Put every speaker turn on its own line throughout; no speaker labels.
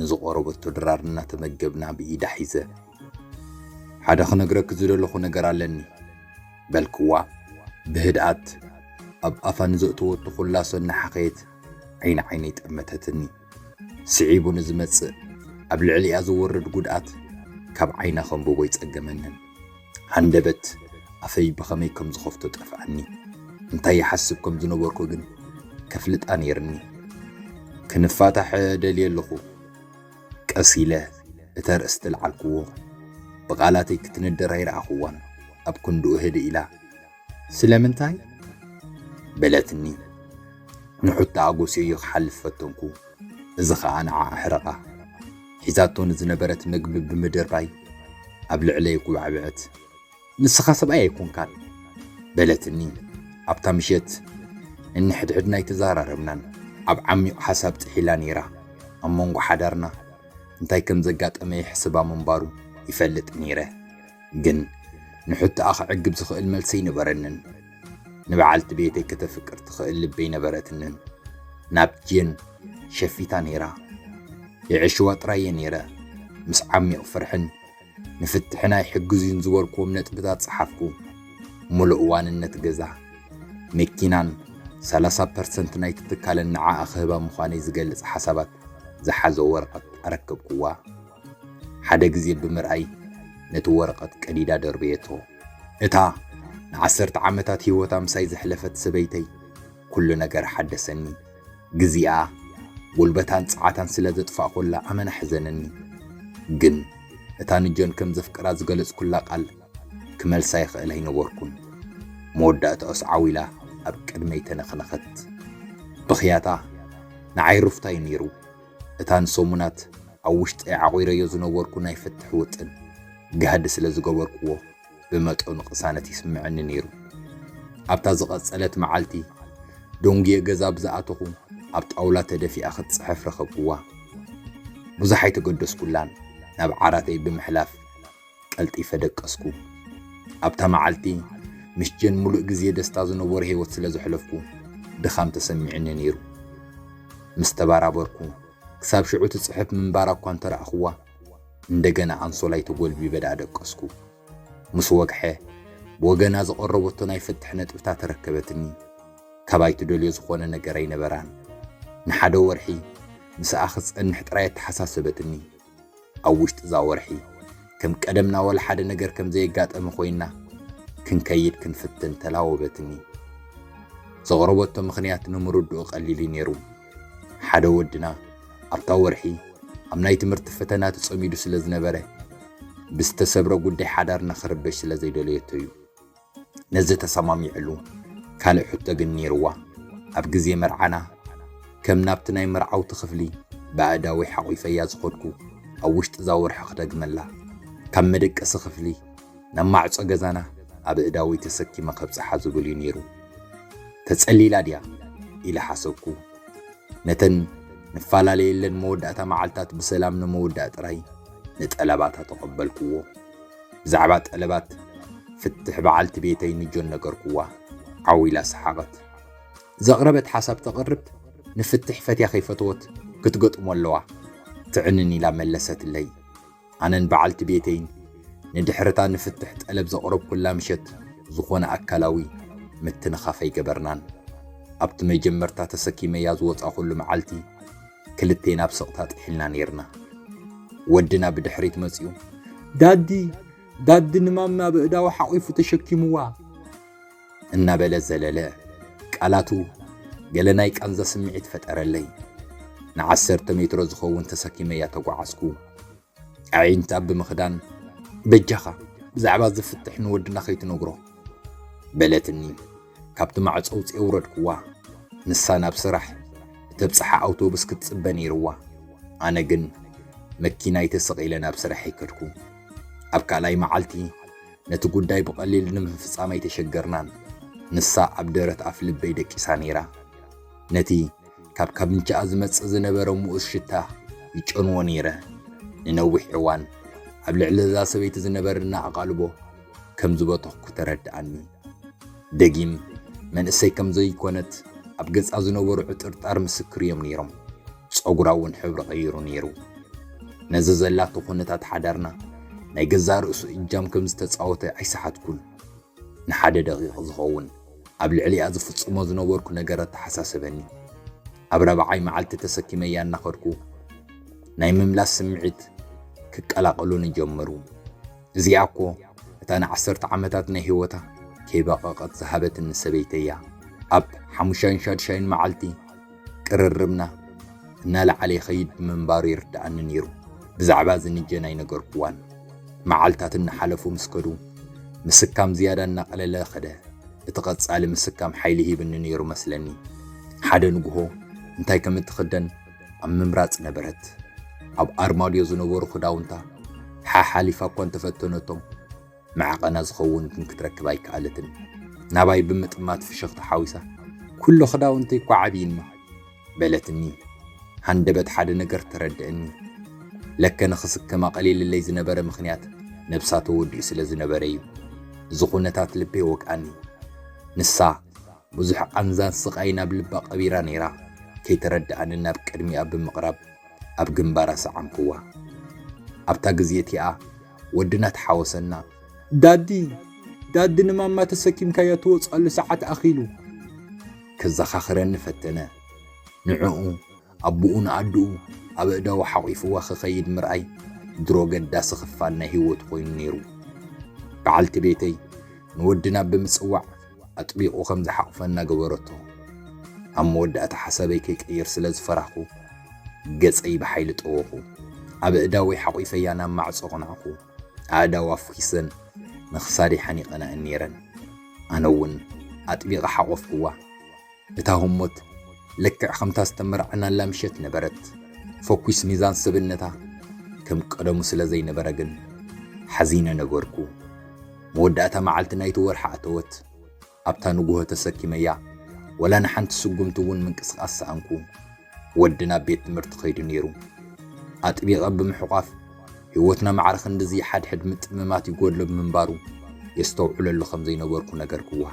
ንዝቆረበቶ ድራር እናተመገብና ብኢዳ ሒዘ ሓደ ክነግረኪ ዝደለኹ ነገር ኣለኒ በልክዋ ብህድኣት ኣብ ኣፋ ንዘእተወቶ ኩላሶ እናሓኸየት ዓይኒ ዓይነይ ጠመተትኒ ስዒቡ ንዝመጽእ ኣብ ልዕሊኣ ዝወርድ ጉድኣት ካብ ዓይና ከንብቦ ኣይጸገመንን ሃንደበት ኣፈይ ብኸመይ ከም ዝኸፍቶ ጠፍኣኒ። እንታይ ይሓስብ ከም ዝነበርኩ ግን ከፍልጣ ነይርኒ። ክንፋታሕ ደልየ ኣለኹ። ቀስ ኢለ እቲ ኣርእስቲ ልዓልክዎ። ብቓላተይ ክትንደር ኣይረኣኽዋን። ኣብ ክንድኡ ህድእ ኢላ። ስለምንታይ? በለትኒ። ንሑታ ኣጎስዮዮ ክሓልፍ ፈተንኩ፣ እዚ ኸኣ ንዓ ኣሕረቓ። ሒዛቶ ንዝነበረት መግቢ ብምድርባይ ኣብ ልዕለይ ኣጉባዕበዐት። ንስኻ ሰብኣይ ኣይኮንካን። በለትኒ። ኣብታ ምሸት ነንሕድሕድና ኣይተዘራረብናን። ኣብ ዓሚቕ ሓሳብ ጥሒላ ነይራ። ኣብ መንጎ ሓዳርና እንታይ ከም ዘጋጠመ ይሕስባ ምንባሩ ይፈልጥ ነይረ። ግን ንሕቶኣ ክዕግብ ዝኽእል መልሲ ኣይነበረንን። ንበዓልቲ ቤተይ ከተፍቅር ትኽእል ልቢ ኣይነበረትንን። ናብ ጄን ሸፊታ ነይራ። የዕሽዋ ጥራይ እየ ነይረ። ምስ ዓሚቕ ፍርሕን ንፍትሕና ይሕግዙዩን ዝበልክዎም ነጥብታት ጸሓፍኩ። ሙሉእ ዋንነት ገዛ፣ መኪናን ሰላሳ ፐርሰንት ናይቲ ትካለን ንዓኣ ክህባ ምዃነይ ዝገልጽ ሓሳባት ዝሓዘ ወረቐት ኣረከብክዋ። ሓደ ግዜ ብምርኣይ ነቲ ወረቐት ቀዲዳ ደርበየቶ። እታ ንዓሰርተ ዓመታት ህይወታ ምሳይ ዘሕለፈት ሰበይተይ ኩሉ ነገር ሓደሰኒ። ግዜኣ፣ ጉልበታን ጸዓታን ስለ ዘጥፋእኩላ ኣመና ኣሕዘነኒ። ግን እታ ንጆን ከም ዘፍቅራ ዝገለጽኩላ ቃል ክመልሳ ይኽእል ኣይነበርኩን። መወዳእታኡስ ዓው ኢላ ኣብ ቅድመይ ተነኽነኸት። ብኽያታ ንዓይ ሩፍታ እዩ ነይሩ። እታ ንሰሙናት ኣብ ውሽጠይ ዓቚረዮ ዝነበርኩ ናይ ፍትሕ ውጥን ጋህዲ ስለ ዝገበርክዎ ብመጠኑ ቅሳነት ይስምዐኒ ነይሩ። ኣብታ ዝቐጸለት መዓልቲ ደንጉየ ገዛ ብዝኣተኹ ኣብ ጣውላ ተደፊኣ ክትጽሕፍ ረኸብክዋ። ብዙሕ ኣይተገደስኩላን ናብ ዓራተይ ብምሕላፍ፣ ቀልጢፈ ደቀስኩ። ኣብታ መዓልቲ ምስ ጀን ምሉእ ግዜ ደስታ ዝነበሮ ህይወት ስለ ዘሕለፍኩ ድኻም ተሰሚዑኒ ነይሩ። ምስ ተበራበርኩ ክሳብ ሽዑ ትጽሕፍ ምንባራ እኳ እንተ ረኣኹዋ፣ እንደገና ኣንሶላይ ተጎልቢበ ደኣ ደቀስኩ። ምስ ወግሐ ብወገና ዝቐረበቶ ናይ ፍትሕ ነጥብታት ተረከበትኒ። ካባይ ትደልዮ ዝኾነ ነገር ኣይነበራን። ንሓደ ወርሒ ምስኣ ክትጸንሕ ጥራይ ኣተሓሳሰበትኒ። ኣብ ውሽጢ እዛ ወርሒ ከም ቀደምና ወላ ሓደ ነገር ከም ዘየጋጠመ ኮይና ክንከይድ ክንፍትን ተላወበትኒ። ዘቕረበቶ ምኽንያት ንምርድኡ ቀሊል እዩ ነይሩ። ሓደ ወድና ኣብታ ወርሒ ኣብ ናይ ትምህርቲ ፈተና ተጸሚዱ ስለ ዝነበረ ብዝተሰብረ ጉዳይ ሓዳርና ክርበሽ ስለ ዘይደለየቶ እዩ። ነዚ ተሰማሚዕሉ ካልእ ሕቶ ግን ነይርዋ፣ ኣብ ግዜ መርዓና ከም ናብቲ ናይ መርዓውቲ ክፍሊ ብኣእዳወይ ሓቚፈያ ዝኸድኩ ኣብ ውሽጢ'ዛ ወርሒ ክደግመላ፣ ካብ መደቀሲ ክፍሊ ናብ ማዕጾ ገዛና ኣብ ኣእዳወይ ተሰኪመ ከብጽሓ ዝብል'ዩ ነይሩ። ተጸሊላ ድያ? ኢለ ሓሰብኩ። ነተን ንፈላለየለን መወዳእታ መዓልታት ብሰላም ንምውዳእ ጥራይ ንጠለባታ ተቐበልክዎ። ብዛዕባ ጠለባት ፍትሕ በዓልቲ ቤተይ ንጆን ነገርኩዋ። ዓው ኢላ ሰሓቐት። ዘቕረበት ሓሳብ ተቕርብ፣ ንፍትሕ ፈትያ ከይፈተወት ክትገጥሞ ኣለዋ። ትዕንን ኢላ መለሰትለይ። ኣነን በዓልቲ ቤተይን ንድሕር'ታ ንፍትሕ ጠለብ ዘቕረብኩላ ምሸት ዝኾነ ኣካላዊ ምትንኻፍ ኣይገበርናን። ኣብቲ መጀመርታ ተሰኪመያ ዝወጻኹሉ መዓልቲ፣ ክልቴና ብ ስቕታ ጢሒልና ኔርና። ወድና ብድሕሪት መጺኡ ዳዲ! ዳዲ! ንማማ በእዳዉ ሓቒፉ ተሸኪምዋ። እናበለ ዘለለ። ቃላቱ ገለ ናይ ቃንዛ ስምዒት ፈጠረለይ። ንዓሰርተ ሜትሮ ዝኸውን ተሰኪመያ ተጓዓዝኩ። ኣዒንቲ ኣቢ ምኽዳን በጃኻ ብዛዕባ እዚ ፍትሕ ንወድና ከይትነግሮ በለትኒ ካብቲ ማዕፆ ውፅኤ ውረድክዋ ንሳ ናብ ስራሕ እተብፅሓ ኣውቶቡስ ክትፅበ ነይርዋ ኣነ ግን መኪናይ ተሰቒለ ናብ ስራሐይ ከድኩ ኣብ ካልኣይ መዓልቲ ነቲ ጉዳይ ብቐሊል ንምፍፃም ኣይተሸገርናን ንሳ ኣብ ደረት ኣፍ ልበይ ደቂሳ ነይራ ነቲ ካብ ካብንቻኣ ዝመጽእ ዝነበረ ምኡዝ ሽታ ይጨንዎ ነይረ። ንነዊሕ እዋን ኣብ ልዕሊ እዛ ሰበይቲ ዝነበረኒ ኣቓልቦ ከም ዝበተኽኩ ተረድኣኒ። ደጊም መንእሰይ ከም ዘይኰነት ኣብ ገጻ ዝነበሩ ዕጥርጣር ምስክር እዮም ነይሮም። ጸጉራ እውን ሕብሪ ቀይሩ ነይሩ። ነዚ ዘላቶ ኵነታት ሓዳርና ናይ ገዛእ ርእሱ እጃም ከም ዝተጻወተ ኣይሰሓትኩን። ንሓደ ደቒቕ ዝኸውን ኣብ ልዕሊኣ ዝፍጽሞ ዝነበርኩ ነገር ኣተሓሳሰበኒ። ኣብ ራብዓይ መዓልቲ ተሰኪመያ እናኸድኩ ናይ ምምላስ ስምዒት ክቀላቐሉኒ ጀመሩ። እዚኣ እኮ እታ ንዓሰርተ ዓመታት ናይ ህይወታ ከይበቐቐት ዝሃበትኒ ሰበይተይ'ያ። ኣብ ሓሙሻይን ሻድሻይን መዓልቲ ቅርርብና እናለዓለ ይኸይድ ምንባሩ ይርድኣኒ ነይሩ። ብዛዕባ እዚ ንጀን ኣይነገርኩዋን። መዓልታት እናሓለፉ ምስ ከዱ፣ ምስካም ዝያዳ እናቐለለ ከደ። እቲ ቀጻሊ ምስካም ሓይሊ ሂብኒ ነይሩ መስለኒ። ሓደ ንግሆ እንታይ ከም እትኽደን ኣብ ምምራጽ ነበረት። ኣብ ኣርማድዮ ዝነበሩ ክዳውንታ ሓሓሊፋ እኳ እንተፈተነቶም፣ መዕቐና ዝኸውን ግን ክትረክብ ኣይከኣለትን። ናባይ ብምጥማት ፍሽኽታ ሓዊሳ፣ ኵሉ ኽዳውንተይ እኳ ዓብዩኒ፣ በለትኒ። ሃንደበት ሓደ ነገር ተረድእኒ። ለከ ንኽስከም ኣቐሊልለይ ዝነበረ ምኽንያት ነብሳ ተወዲኡ ስለ ዝነበረ እዩ። እዚ ዅነታት ልበይ ወግኣኒ። ንሳ፣ ብዙሕ ቓንዛን ስቓይን ኣብ ልባ ቐቢራ ነይራ፣ ከይተረድኣኒ ናብ ቅድሚኣ ብምቕራብ ኣብ ግንባራ ሰዓምክዋ። ኣብታ ግዜ እቲኣ፣ ወድና ተሓወሰና ዳዲ ዳዲ ንማማ ተሰኪምካያ ትወጽኣሉ ሰዓት ኣኺሉ ከዘኻኽረኒ ፈተነ። ንዕኡ ኣቡኡን ኣዱኡ ኣብ ኣእዳዉ ሓቒፉዋ ክኸይድ ምርኣይ ድሮ ኣገዳሲ ክፋል ናይ ህይወቱ ኮይኑ ነይሩ። በዓልቲ ቤተይ ንወድና ብምጽዋዕ ኣጥቢቑ ከም ዝሓቝፈና ገበረቶ። ኣብ መወዳእታ ሓሳበይ ከይቅይር ስለ ዝፈራህኩ፣ ገጸይ ብሓይሊ ጠወኹ። ኣብ ኣእዳወይ ሓቝፈያ ናብ ማዕጾ ኣቕናዕኩ። ኣእዳዋ ፍኺሰን ንኽሳደይ ሓኒቐና'የን ነይረን። ኣነ'ውን ኣጥቢቐ ሓቖፍኩዋ። እታ ህሞት ልክዕ ከምታ ዝተመርዓናላ ምሸት ነበረት። ፈኲስ ሚዛን ሰብነታ ከም ቀደሙ ስለ ዘይነበረ ግን ሓዚነ ነበርኩ። መወዳእታ መዓልቲ ናይቲ ወርሒ ኣተወት። ኣብታ ንጉሆ ተሰኪመያ ወላ ንሓንቲ ስጉምቲ እውን ምንቅስቓስ ሰኣንኩ። ወዲ ናብ ቤት ትምህርቲ ከይዱ ነይሩ። ኣጥቢቐ ብምሕቋፍ ህይወትና ማዕረ ክንድዚ ሓድሕድ ምጥምማት ይጎድሎ ብምንባሩ የስተውዕለሉ ከም ዘይነበርኩ ነገርክዋ።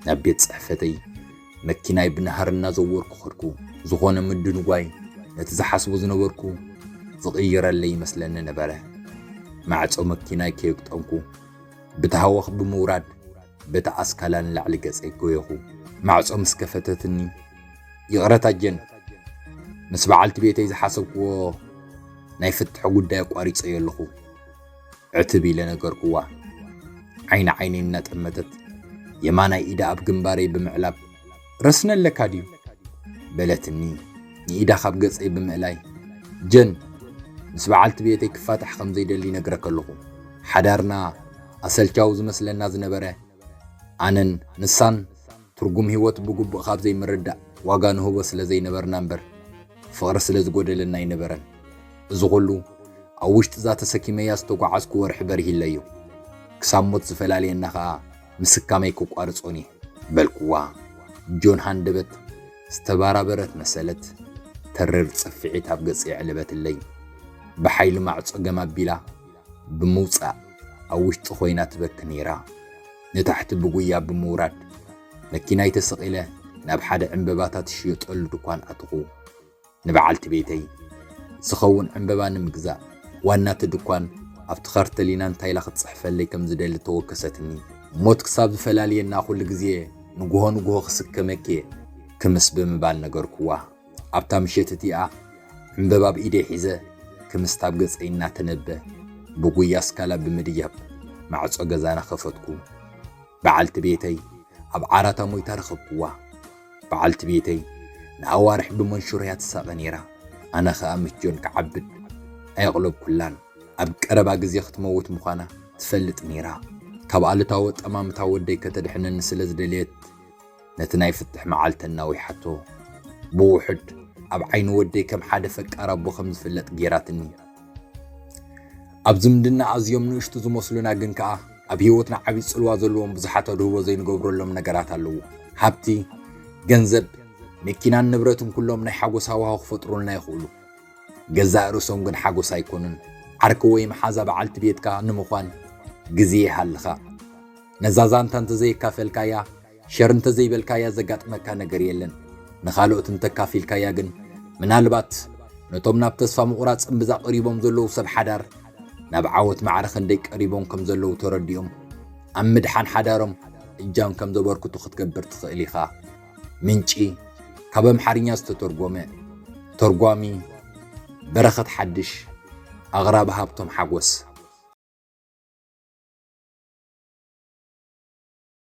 ናብ ቤት ጽሕፈተይ መኪናይ ብናህሪ እናዘወርኩ ኸድኩ። ዝኾነ ምድንጓይ ነቲ ዝሓስቦ ዝነበርኩ ዝቕይረለይ ይመስለኒ ነበረ። ማዕጾ መኪናይ ከየግጠምኩ ብታህዋኽ ብምውራድ በቲ ኣስካላ ንላዕሊ ገጸይ ጎየኹ። ማዕጾ ምስ ከፈተትኒ፣ ይቕረታ ጀን፣ ምስ በዓልቲ ቤተይ ዝሓሰብክዎ ናይ ፍትሒ ጉዳይ ኣቋሪጸዮ ኣለኹ። ዕትብ ኢለ ነገርክዋ። ዓይኒ ዓይነይ እናጠመተት የማናይ ኢዳ ኣብ ግንባረይ ብምዕላብ ረስኒ ኣለካ ድዩ? በለትኒ ንኢዳ ካብ ገጸይ ብምእላይ። ጀን፣ ምስ በዓልቲ ቤተይ ክፋታሕ ከም ዘይደሊ ነግረክ ኣለኹ። ሓዳርና ኣሰልቻዊ ዝመስለና ዝነበረ ኣነን ንሳን ትርጉም ህይወት ብግቡእ ካብ ዘይምርዳእ ዋጋ ንህቦ ስለ ዘይነበርና እምበር ፍቕሪ ስለ ዝጎደለና ኣይነበረን። እዚ ኹሉ ኣብ ውሽጢ እዛ ተሰኪመያ ዝተጓዓዝኩ ወርሒ በሪሂለዮ። ክሳብ ሞት ዝፈላልየና ኸኣ ምስካመይ ክቋርጾኒ በልኩዋ። ጆን ሃንደበት ዝተባራበረት መሰለት፣ ተሪር ጽፍዒት ኣብ ገጸይ ኣዕለበትለይ። ብሓይሊ ማዕጾ ገም ኣቢላ ብምውጻእ ኣብ ውሽጢ ኮይና ትበኪ ነይራ። ንታሕቲ ብጉያ ብምውራድ መኪናይ ተሰቒለ ናብ ሓደ ዕንበባታት ዝሽየጠሉ ድኳን ኣተኹ። ንበዓልቲ ቤተይ ዝኸውን ዕምበባ ንምግዛእ ዋና'ቲ ድኳን ኣብቲ ካርተሊና እንታይ ኢላ ክትጽሕፈለይ ከም ዝደሊ ተወከሰትኒ። ሞት ክሳብ ዝፈላልየና ኩሉ ግዜ ንግሆ ንግሆ ክስከመኪ'የ ክምስ ብምባል ነገርኩዋ። ኣብታ ምሸት እቲኣ ዕምበባ ኣብ ኢደይ ሒዘ ክምስት ኣብ ገጸይ እናተነበ ብጉያ ኣስካላ ብምድያብ ማዕጾ ገዛና ከፈትኩ። በዓልቲ ቤተይ ኣብ ዓራታ ሞይታ ረኸብኩዋ። በዓልቲ ቤተይ ንኣዋርሕ ብመንሽሮ'ያ ትሳቐ ነይራ፣ ኣነ ኸኣ ምስ ጆን ክዓብድ ኣየቕለብኩላን። ኣብ ቀረባ ግዜ ክትመውት ምዃና ትፈልጥ ነይራ። ካብ ኣሉታዊ ኣጠማምታ ወደይ ከተድሕነኒ ስለ ዝደለየት ነቲ ናይ ፍትሕ መዓልቲ ኣናዊሓቶ። ብውሑድ ኣብ ዓይኒ ወደይ ከም ሓደ ፈቃር ኣቦ ከም ዝፍለጥ ገይራትኒ። ኣብ ዝምድና ኣዝዮም ንእሽቱ ዝመስሉና ግን ከኣ ኣብ ህይወትና ዓብዪ ጽልዋ ዘለዎም ብዙሓት ኣድህቦ ዘይንገብረሎም ነገራት ኣለዉ። ሃብቲ፣ ገንዘብ፣ መኪናን ንብረትን ኩሎም ናይ ሓጎስ ሃዋህው ክፈጥሩልና ይኽእሉ። ገዛእ ርእሶም ግን ሓጎስ ኣይኮኑን። ዓርኪ ወይ መሓዛ በዓልቲ ቤትካ ንምዃን ግዜ ይሃልኻ። ነዛ ዛንታ እንተዘየካፈልካያ ሸር እንተዘይበልካያ ዘጋጥመካ ነገር የለን፣ ንኻልኦት እንተካፊልካያ ግን ምናልባት ነቶም ናብ ተስፋ ምቑራጽ እምብዛ ቀሪቦም ዘለዉ ሰብ ሓዳር ናብ ዓወት ማዕረ ክንደይ ቀሪቦም ከም ዘለዉ ተረዲኦም ኣብ ምድሓን ሓዳሮም እጃም ከም ዘበርክቱ ክትገብር ትኽእል ኢኻ። ምንጪ ካብ ኣምሓርኛ ዝተተርጎመ ተርጓሚ በረኸት ሓድሽ ኣቕራቢ ሃብቶም ሓጎስ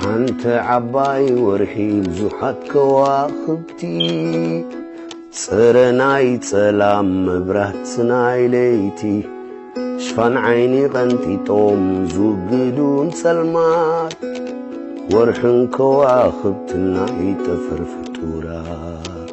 ሓንቲ ዓባይ ወርሒ ብዙሓት ከዋኽብቲ ጽረ ናይ ጸላም መብራት ናይ ለይቲ ሽፋን ዓይኒ ቐንጢጦም ዝውግዱን ጸልማት ወርሕን ከዋኽብትን ናይ ጠፈር ፍጡራት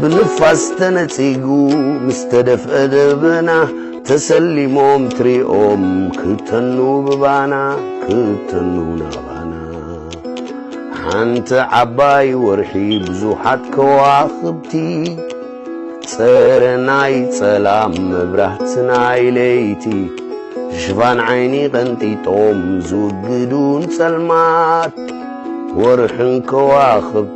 ብንፋስ ተነጺጉ ምስ ተደፍአ ደበና ተሰሊሞም ትሪኦም ክተኑ ብባና ክተኑ ናባና ሓንቲ ዓባይ ወርሒ ብዙሓት ከዋኽብቲ ጸረ ናይ ጸላም መብራህቲ ናይ ለይቲ ሽፋን ዓይኒ ቀንጢጦም ዝውግዱን ጸልማት ወርሕን ከዋኽብቲ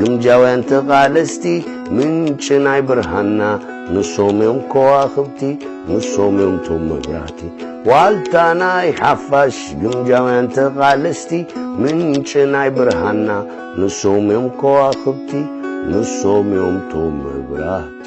ግምጃውያን ተቓለስቲ ምንጪ ናይ ብርሃንና ንሶም እዮም ከዋኽብቲ ንሶም እዮም ቶም መብራህቲ ዋልታ ናይ ሓፋሽ ግምጃውያን ተቓለስቲ ምንጪ ናይ ብርሃንና ንሶም እዮም ከዋኽብቲ ንሶም እዮም ቶም መብራህቲ